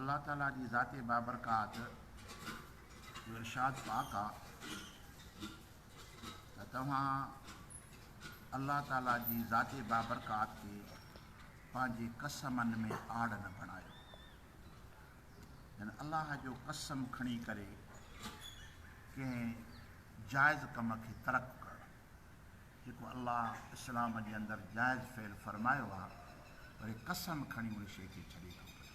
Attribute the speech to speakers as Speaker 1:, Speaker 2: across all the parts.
Speaker 1: الله تعاليٰ جي ذات بابرڪات جو ارشاد پاڪ آ ته توهان الله تعاليٰ جي ذات بابرڪات کي پنهنجي قسمن ۾ آڙ نه بڻايو يعني الله جو قسم کڻي ڪري ڪنهن جائز ڪم کي ترڪ ڪرڻ جيڪو الله اسلام جي اندر جائز فعل فرمايو آ وري قسم کڻي ان شيء کي ڇڏي ٿو پري.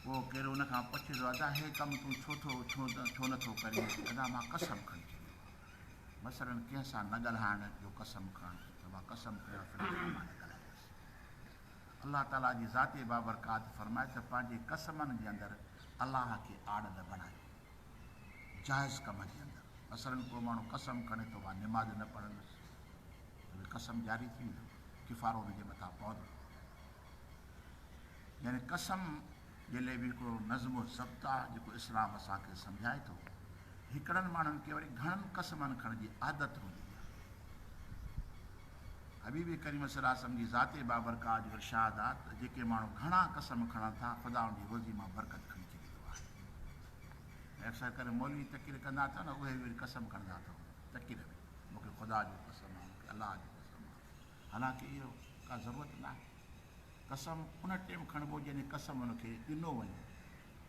Speaker 1: پوء ڪير ان کان پڇي ٿو ادا هي ڪم تون ڇو ٿو ڇو نه ٿو ڪرين ادا مان قسم کڻي ڇڏيو آ مثلاً ڪنهن سان نه ڳالهائڻ جو قسم کڻ ته مان قسم کنيو آ فلاني سان مان نه ڳالهائيندس الله تعاليٰ جي ذات بابرڪات فرمائي ته پنهنجي قسمن جي اندر الله کي آڙ نه بڻايو جائز ڪم جي اندر مثلاً ڪو ماڻهو قسم کڻي ٿو مان نماز نه پڙهندس ته اهي قسم جاري ٿي ويندو ڪفارو ان جي مٿان پوندو يعني قسم جي لئي به هڪڙو نظم و ضبط آهي جيڪو اسلام اسان کي سمجهائي ٿو هڪڙن ماڻهن کي وري گهڻن قسمن کڻ جي عادت هوندي آهي حبيب ڪريم صلي الله علیه جي ذات بابرڪات جو ارشاد آهي ته جيڪي ماڻهو گهڻا قسم کڻن ٿا خدا ان جي روزي مان برڪت کڻي ڇڏيندو آهي ۽ اڪثر ڪري مولوي تقرير ڪندا اٿئو نه اهي وري قسم کڻندا اٿئو تقرير ۾ مون کي خدا جو قسم آ مون کي الله جو قسم آ حالانڪه اهو ڪا ضرورت ناهي قسم ان ٽيم کڻبو جڏهن قسم ان کي ڏنو وڃي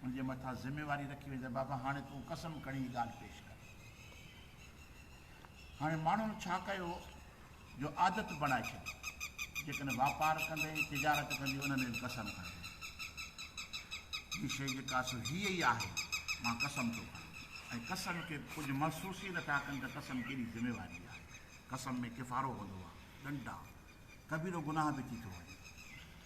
Speaker 1: ان جي مٿان ذميواري رکي وڃي ته بابا هاڻي تون قسم کڻي ڳالهه پيش ڪر هاڻي ماڻهن ڇا ڪيو جو عادت بڻائي ڇڏي، جيڪڏهن واپار ڪندي، تجارت ڪندي ان ۾ به قسم کڻبو. ٻي شيء جيڪا سو هيء ئي آهي، مان قسم ٿو کڻان ۽ قسم کي ڪجهه محسوس ئي نٿا ڪن ته قسم ڪيڏي ذميواري آهي. قسم ۾ ڪفارو هوندو آهي، ڏنڊ آهن، ڪبيرو گناهه به ٿي ٿو وڃي.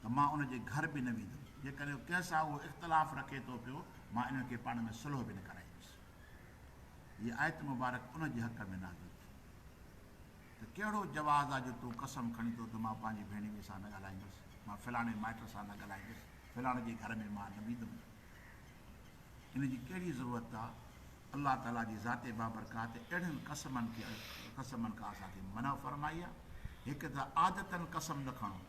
Speaker 1: ته مان ان جي گهر به نه ويندم. جيڪڏهن ڪنهن سان اهو اختلاف رکي ٿو پيو، مان انهن کي پاڻ ۾ صلح به نه ڪرائيندس. هيء آيت مبارڪ ان جي حق ۾ نازل ٿي ته ڪهڙو جواز آ جو تون قسم کڻين ٿو ته مان پنهنجي ڀيڻيوي سان نه ڳالهائيندس، مان فلاڻي مائٽ سان نه ڳالهائيندس، فلاڻي جي گهر ۾ مان نه ويندم. ان جي ڪهڙي ضرورت آ؟ الله تعاليٰ جي ذات بابرڪات اهڙن قسمن کي قسمن کان اسان کي منع فرمائي آ. هڪ ته عادتاً قسم نه کڻو.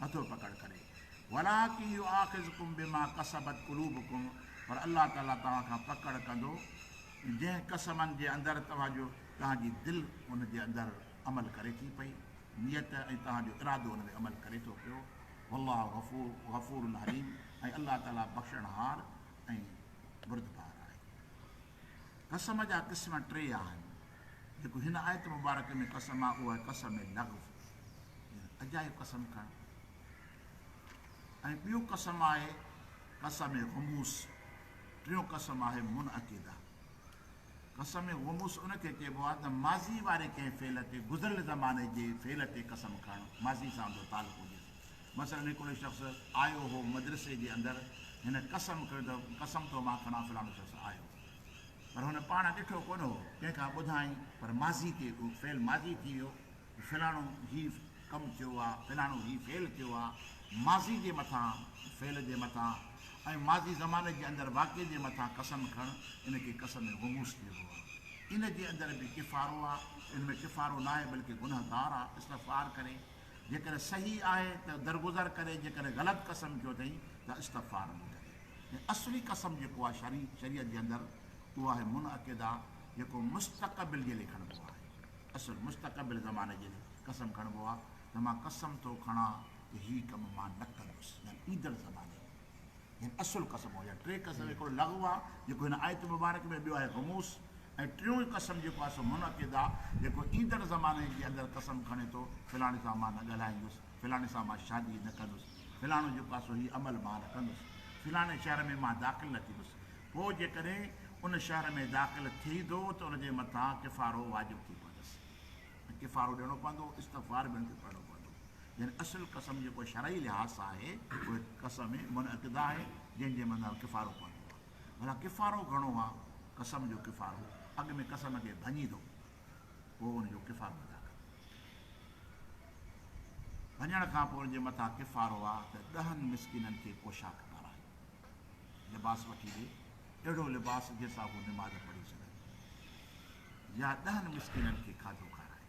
Speaker 1: نٿو پڪڙ ڪري ولاڪن يؤاخذڪم بما ڪسبت قلوبڪم پر الله تعالي توهان کان پڪڙ ڪندو جنهن قسمن جي اندر توهان جو توهان جي دل ان جي اندر عمل ڪري ٿي پئي نيت ۽ توهان جو ارادو ان ۾ عمل ڪري ٿو پيو والله غفور غفور الحليم ۽ الله تعالي بخشڻهار ۽ بردبار آهي قسم جا قسم ٽي آهن، جيڪو هن آيت مبارڪه ۾ قسم آهي اهو آهي قسم لغو يعني اجايو قسم کڻڻ ۽ ٻيو قسم آهي قسم غموس ٽيون قسم آهي منعقده قسم غموس ان کي چئبو آهي ته ماضي واري ڪنهن فعل تي گذريل زماني جي فعل تي قسم کڻڻ ماضي سان ان جو تعلق هجيس مثلاً هڪ اهو شخص آيو هو مدرسي جي اندر، هن قسم کنيو ته قسم ٿو مان کڻان فلاڻو شخص آيو پر هن پاڻ ڏٺو ڪونه هو، ڪنهن کان ٻڌائين پر ماضي تي اهو فعل ماضي ٿي ويو ته فلاڻو هي ڪم ٿيو آ، فلاڻو هي فعل ٿيو آ، ماضي جي مٿان فعل جي مٿان ۽ ماضي زماني جي اندر واقعي جي مٿان قسم کڻڻ ان کي قسم غموس چئبو آ. ان جي اندر به ڪفارو آ، ان ۾ ڪفارو ناهي بلڪه گنهگار آ استغفار ڪري. جيڪڏهن صحيح آهي ته درگذر ڪري جيڪڏهن غلط قسم کيو اٿئي ته استغفار ادا ڪري ۽ اصلي قسم جيڪو آهي شرعي شريعت جي اندر اهو آهي منعقده جيڪو مستقبل جي لئي کڻبو آهي اصل مستقبل زماني جي لئي قسم کڻبو آهي ته مان قسم ٿو کڻان ته هي ڪم مان نه ڪندس يعني ايندڙ زماني هن اصل قسم هو يا ٽي قسم هڪڙو لغو آ جيڪو هن آيت مبارڪ ۾ ٻيو آهي غموس ۽ ٽيون قسم جيڪو آهي سو منعقد آ جيڪو ايندڙ زماني جي اندر قسم کڻي ٿو فلاڻي سان مان نه ڳالهائيندس فلاڻي سان مان شادي نه ڪندس فلاڻو جيڪو آهي سو هي عمل مان نه ڪندس فلاڻي شهر ۾ مان داخل نه ٿيندس پوء جيڪڏهن ان شهر ۾ داخل ٿئي ٿو ته ان جي مٿان ڪفارو واجب ٿي پوندس ڪفارو ڏيڻو پوندو استغفار به ان تي پڙهڻو پوندو يعني اصل قسم جيڪو شرعي لحاظ سان آهي اهي قسم منعقده آهي جنهن جي مدار ڪفارو پوندو آهي ڀلا ڪفارو گهڻو آهي قسم جو ڪفارو اڳ ۾ قسم کي ڀڃي ٿو پوء ان جو ڪفارو ادا ڪري ڀڃڻ کان پوء ان جي مٿان ڪفارو آهي ته ڏهن مسڪينن کي پوشاڪ پارائي لباس وٺي ڏي اهڙو لباس جنهن سان هو نماز پڙهي سگهن يا ڏهن مسڪينن کي کاڌو کارائي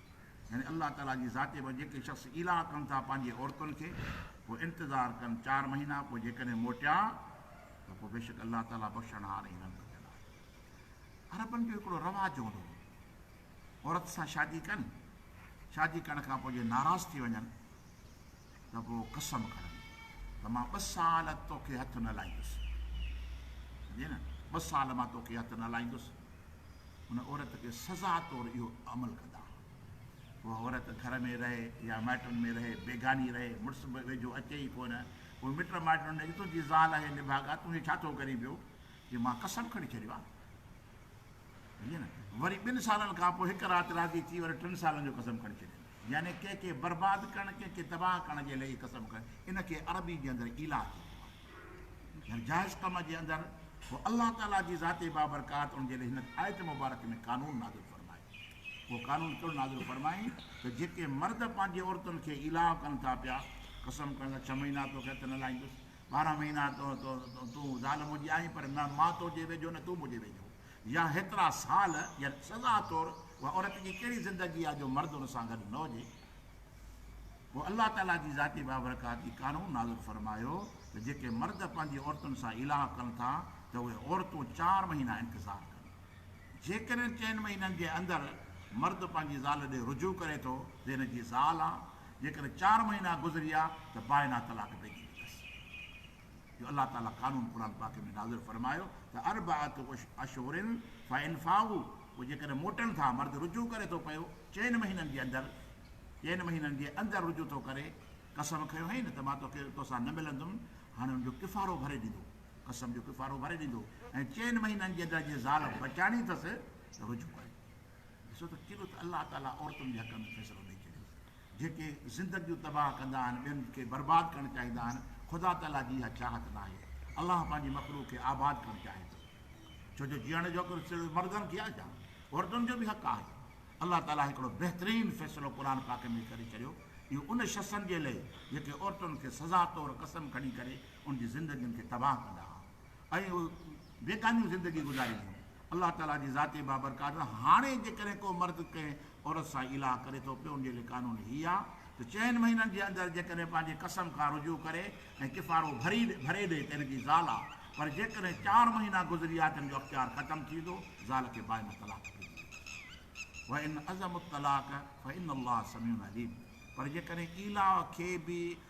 Speaker 1: يعني الله تعاليٰ جي ذاتي وٽ جيڪي شخص ايلاء ڪن ٿا پنهنجي عورتن کي پوء انتظار ڪن چار مهينا پوء جيڪڏهن موٽيا ته پوء بيشڪ الله تعاليٰ بخشڻهار ۽ رحم ڪندڙ آهي. عربن جو هڪڙو رواج هوندو هو عورت سان شادي ڪن شادي ڪرڻ کان پوء جي ناراض ٿي وڃن ته گو قسم کڻن ته مان ٻه سال توکي هٿ نه لائيندس. سمجهي نه؟ ٻه سال مان توکي هٿ نه لائيندس. ان عورت کي سزا طور اهو عمل ڪندا ها. اها عورت گهر ۾ رهي يا مائٽن ۾ رهي، بيگاني رهي، مڙس به ويجهو اچي ئي ڪونه. پوء مٽ مائٽن هن چيو، تنهنجي زال آهي نڀاڳا، تون هي ڇا ٿو ڪرين پيو؟ چي مان قسم کڻي ڇڏيو آهي. وري ٻن سالن کان پوء هڪ رات راضي ٿي وري ٽن سالن جو قسم کڻي ڇڏين. يعني ڪنهن کي برباد ڪرڻ ڪنهن کي تباهه ڪرڻ جي لئي قسم کڻي ان کي عربي جي اندر ايلاء چئبو آهي. يعني جائز ڪم جي اندر پوء الله تعالي جي ذات بابرڪات ان جي لئي هن آيت مبارڪ ۾ قانون نازل فرمائي. اهو قانون ڪهڙو نازل فرمائين ته جيڪي مرد پنهنجي عورتن کي ايلاء ڪن ٿا پيا قسم کڻن ٿا ڇهه مهينا توکي هٿ نه لائيندس ٻارهن مهينا تون ظالم هجي آهين پر نه مان تو جي ويجهو نه تون مون جي ويجهو يا هيترا سال يا سزا طور اها عورت جي ڪهڙي زندگي آهي جو مرد ان سان گڏ نه هجي پوء الله تعالي جي ذاتي بابرڪات هي قانون نازل فرمايو ته جيڪي مرد پنهنجي عورتن سان ايلاء ڪن ٿا ته اهي عورتون چار مهينا انتظار ڪن جيڪڏهن چئن مهينن جي اندر مرد پنهنجي زال ڏي رجوع ڪري ٿو ته هن جي زال آ جيڪڏهن چار مهينا گذريا ته بائنا طلاق پئجي ويندس جو الله تعالي قانون قرآن پاڪ ۾ نازل فرمايو ته اربعة اشهر فان فاؤوا پوء جيڪڏهن موٽن ٿا مرد رجوع ڪري ٿو پيو چئن مهينن جي اندر چئن مهينن جي اندر رجوع ٿو ڪري قسم کنيو هئين نه ته مان توکي توسان نه ملندم هاڻي ان جو ڪفارو ڀري ڏيندو قسم جو ڪفارو ڀري ڏيندو ۽ چئن مهينن جي اندر جي زال بچائڻي اٿس ته رجوع ڪري. ڏسو ته ڪيڏو ته الله تعاليٰ عورتن جي حق ۾ فيصلو ڏئي ڇڏيو. جيڪي زندگيون تباهه ڪندا آهن، ٻين کي برباد ڪرڻ چاهيندا آهن، خدا تعاليٰ جي اها چاهت ناهي. الله پنهنجي مخلوق کي آباد ڪرڻ چاهي ٿو. ڇو جو جيئڻ جو حق صرف مردن کي آهي ڇا؟ عورتن جو به حق آهي. الله تعاليٰ هڪڙو بهترين فيصلو قرآن پاڪ ۾ ڪري ڇڏيو. اهو ان شخصن جي لئي جيڪي عورتن کي سزا طور قسم کڻي ڪري ان جي زندگين کي تباهه ڪندا آهن. ۽ اهي بيگانيون زندگي گذارينديون. الله تعاليٰ جي ذاتي بابرڪات آهي. هاڻي جيڪڏهن ڪو مرد ڪنهن عورت سان ايلاء ڪري ٿو پيو ان جي لئه قانون هي آهي ته چئن مهينن جي اندر جيڪڏهن پنهنجي قسم کان رجوع ڪري ۽ ڪفارو ڀري ڏي ته ان جي زال آهي پر جيڪڏهن چار مهينا گذري ويا ته ان جو اختيار ختم ٿي ويندو زال کي بائينه طلاق ڏني ويندي وان عزموا الطلاق فان الله سميع عليم پر جيڪڏهن ايلاء کي به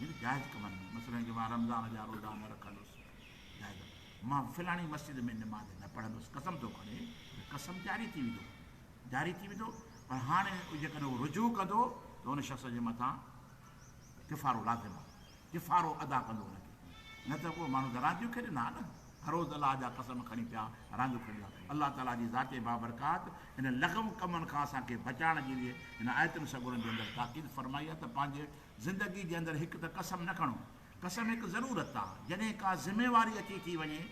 Speaker 1: جن جائز ڪمن ۾ مثلاً جي مان رمضان جا روزا نه رکندس جائز مان فلاڻي مسجد ۾ نماز نه پڙهندس قسم ٿو کڻي ته قسم جاري ٿي ويندو جاري ٿي ويندو پر هاڻي جيڪڏهن هو رجوع ڪندو ته ان شخص جي مٿان ڪفارو لازم آهي ڪفارو ادا ڪندو هن کي نه ته اهو ماڻهو ته رانديون کيڏن ها نه هروز الله جا قسم کڻي پيا رانديون کڻي پيا. الله تعاليٰ جي ذات بابرڪات انهن لغو ڪمن کان اسان کي بچائڻ جي لئه هن آيتن سڳورن جي اندر تاڪيد فرمائي آهي ته پنهنجي زندگي جي اندر هڪ ته قسم نه کڻو. قسم هڪ ضرورت آ. جڏهن ڪا ذميواري اچي ٿي وڃي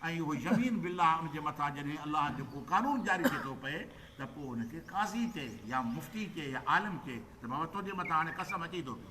Speaker 1: ۽ اهو يمين بالله ان جي مٿان جڏهن الله جو ڪو قانون جاري ٿي ٿو پئي ته پوء ان کي قاضي چئي يا مفتي چئي يا عالم چئي ته بابا تنهنجي مٿان هاڻي قسم اچي ٿو پيو.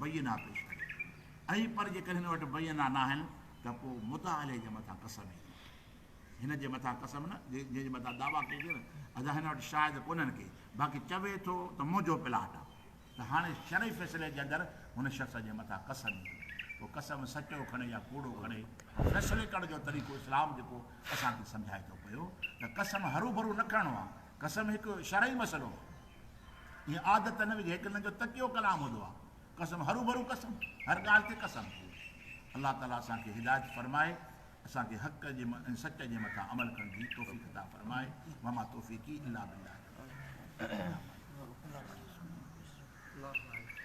Speaker 1: بينا پيش ڪري ۽ پر جيڪڏهن هن وٽ بينا ناهن ته پوء مدعا عليه جي مٿان قسم ئي ٿي پوي. هن جي مٿان قسم نه، جنهن جي مٿان دعويٰ ڪئي ٿي نه، ادا هن وٽ شاهد ڪونهن ڪي، باقي چوي ٿو ته منهنجو پلاٽ آ، ته هاڻي شرعي فيصلي جي اندر هن شخص جي مٿان قسم ئي ٿي پوي. پوء قسم سچو کڻي يا ڪوڙو کڻي، پر فيصلي ڪرڻ جو طريقو اسلام جيڪو اسان کي سمجهائي ٿو پيو ته قسم هروڀرو نه کڻڻو آ، قسم هڪ شرعي مسئلو آ. اها عادت نه وجهه هيڪ هن جو تڪيو ڪلام هوندو آهي قسم هروڀرو قسم هر ڳالهه تي قسم الله تعالي اسان کي هدايت فرمائي اسان کي حق جي ۽ سچ جي مٿان عمل ڪرڻ جي توفيق عطا فرمائي وما توفيقي الا بالله